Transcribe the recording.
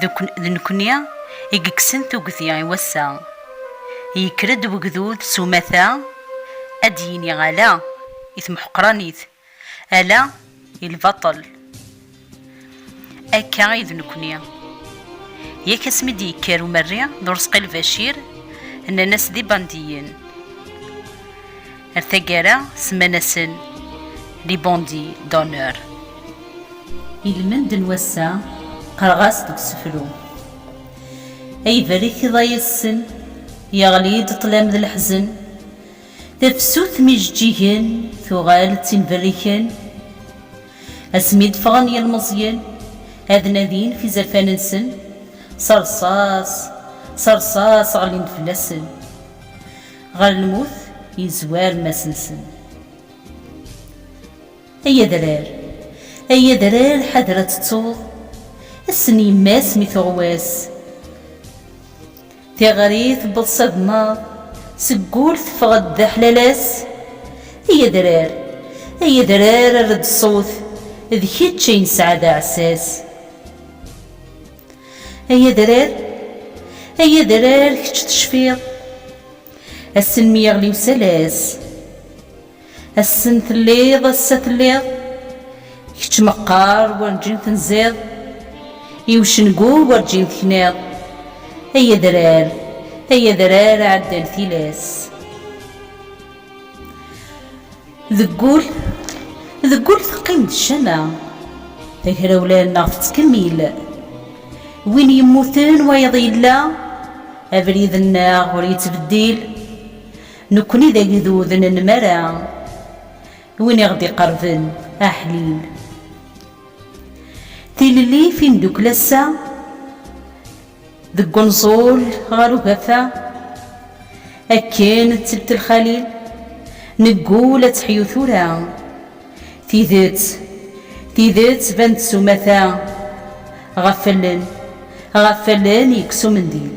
D nekkni i yekksen tugdi i wass-a. Yekker-d wegdud s umata ad d-yini ala i temḥeqranit, ala i lbaṭel. Akka i d nekkni. Yak asmi d-yekker umerri d ureṣqi Lbacir, nnan-as d ibandiyen. Ar taggara semman-asen les bandits d'honneur. Ilmend n wass-a qqareɣ-as deg usefru. Ay berrik iḍay assen, yeɣli-d ṭṭlam d leḥzen. Tafsut n yijeǧǧigen tuɣal d tin berriken. Asmi d-ffɣen yilmeẓyen ad nadin ɣef izerfan-nsen, s rṣas, s rṣas ɣellin-d fell-asen. Ɣer lmut yezwar mass-nsen. Ay adrar, ay adrar ḥader ad tettuḍ Ass-n yemma-s mi tuɣwas Tiɣri tewweḍ s agemmaḍ Seg wul teffeɣ-d d aḥlalas Ay adrar, ay adrar err-d ṣṣut D kečč ay nesɛa d aɛessas. Ay adrar, ay adrar kečč tecfiḍ, assen mi yeɣli usalas, assen telliḍ ass-a telliḍ, kečč meqqar werǧin tenziḍ, i ucengu werǧin tekniḍ, ay adrar, ay adrar ɛeddan tilas. Deg ul, deg ul teqqim-d ccama, tagrawla-nneɣ tettkemmil. Win yemmuten wayeḍ yella, abrid-nneɣ ur yettbeddil. Nekkni d agdud n nnmara, win i ɣ-d-iqerben aḥlil. Tilelli, timdukla ass-a. Deg unẓul ɣer ugafa, akken d telt lxalil, neggul ad teḥyu tura. Tidet, tidet tban-d s umata, ɣef allen, ɣef allen yekkes umendil.